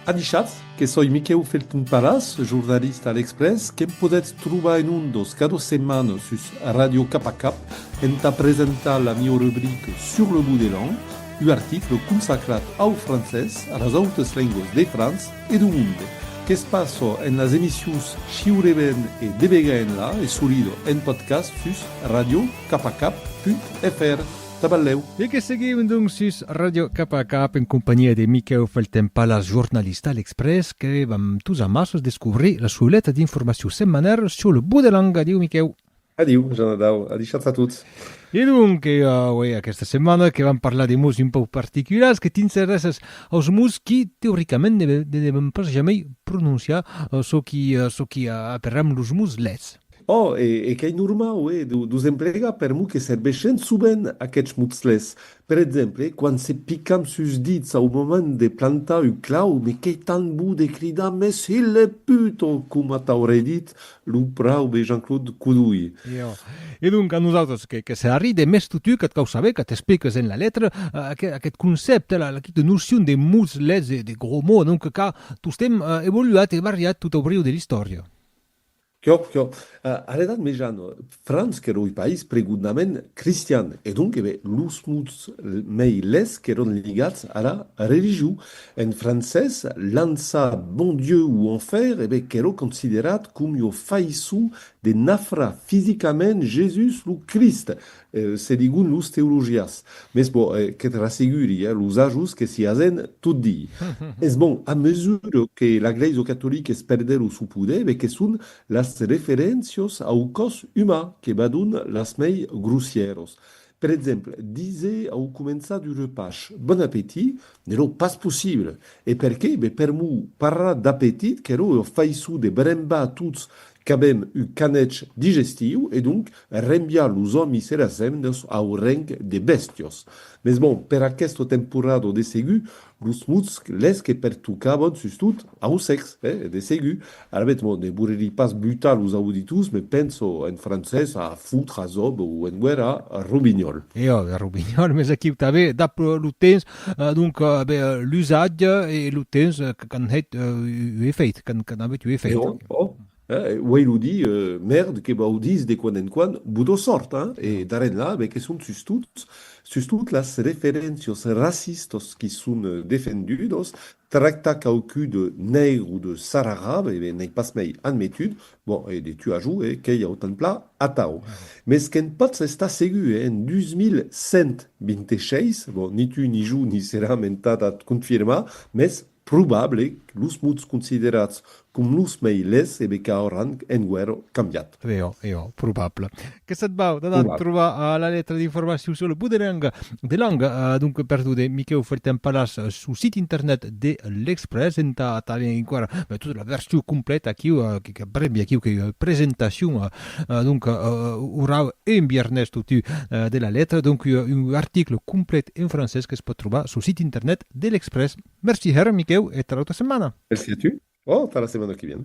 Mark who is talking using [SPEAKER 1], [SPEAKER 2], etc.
[SPEAKER 1] Avichatz que soi Miquèu Felton Palas, jornalista a l'Exprès, que'm podètz trobar en ondas cada setmana sus Radio Cap a Cap entà presentar la mieu rubrica Sur le bout des langues, un article consacrat au francés, a las autas lengas de França e dau monde. Que's passa en las emissions Shiureben e Debegaenla e solida en podcast sus radiocapacap.fr. Taballèu. E que seguiu donc sus Ràdio Cap a Cap en companhiá de Miquèu Felten-Palas, jornalista a L'Express, que vam tous amassos descobrir la souleta d'informaciu setmanal sur le bou de langa. Adiu, Miquèu. Adiu, Janadau. Adishatz a tots. E donc, aué, aquesta setmana que vam parlar de mots un pauc particulars, que t'interessas aus mots qui, teoricament, ne devèm pas jamei prononciar, çò qui, çò qui aperram los mots lèts. Ò, e qu'ei normau, hè, d'os emplegar per mo que serveishen sovent aqueths motslets. Per exemple, quan se picam sus dits au moment de plantar un clau, me qu'ei tant bo de cridar mes hilh de put! ò coma t'aurei dit lo praube Jean-Claude Codolh. E ò, e donc a nosautres que que se arride mes totu qu'eth cau saber, que t'expliques en la letra, aqueth aqueth concèpte, la la quita nocion de motslets, de de gros mots, donc qu'a tostemp evoluat e variat tot au briu de l'istòria. Quò, quò. A l'Edat Mejana, França qu'èra ui país pregudnament cristian, e donc eve los mots mei lèths qu'èron ligats ara religion. En francés, l'ansa Bon Dieu ou Enfer eve quèrò considerat com ua faisson de nafrar fisicament Jesús lo Crist, Se digun los teologias. Mes bon, que te l'asseguri, los ajos que s'i hasen tot dii. Es bon, a mesura que la Glèisa catolica es perdent lo sou poder, be que son las referéncios au còs umà que vadon las mei grossièros. Per exemple, dise au començar du repach, Bon apetit! Ne lo pas possible! E per qué? Be per mou parrar d'apetit, qu'èro ua faiçon de brembar tots Qu'avèm un canèc digestiu e donc rembiar los òmis e las hemnas au reng de bèstios. Mes bon, per aquesta temporada de segur los mots les que pertocavan sustot au sèx, eh? De segur. Alavetz bon, ne vorerí pas butar los auditors, me penso en francés a foutre, a zob, o en guèrra, robinyòl. Eòga, robinyòl, mes aquiu tanben, dab lo temps, Donc, ben, l'usatge e lo temps qu'an hèt un efèit, qu'an avut un efèit. Ò, uèi lo di, mèrd, que vau dis de quan en quan, bodo sòrt, hein? E d'ara enlà, ben, que son sustot, sustot las referéncias racistas qui son defendudas, tractar quauqui de nègre o de sararab, e ben, n'ai pas mei admetut, Bon, e de tu a jo, e qu'ei autant pla atau. Mès que'n potz estar segur, e en 2126, bon, ni tu ni jo n'i seram entad ath confirmar, mès probable que los mots considerats com los mei lhés e becau auran enguèro cambiat. Eò, eò, probable. que se't vau d'anar Hola. trobar a la letra d'informacion sur le buderang de lang. Uh, donc, per tot, eh, Miquèu Fertin Palas, uh, su sit internet de l'Express, entà tanben enquara uh, tota la version complèta aquiu, uh, que, que brembi aquiu, que uh, presentacion, uh, uh, donc, uh, uh, orau un biernès totu uh, de la letra, donc, uh, un article complet en francès que es pot trobar su sit internet de l'Express. Merci, her, Miquèu, e tà l'autra setmana. Merci a tu. Oh, tà la setmana que vien.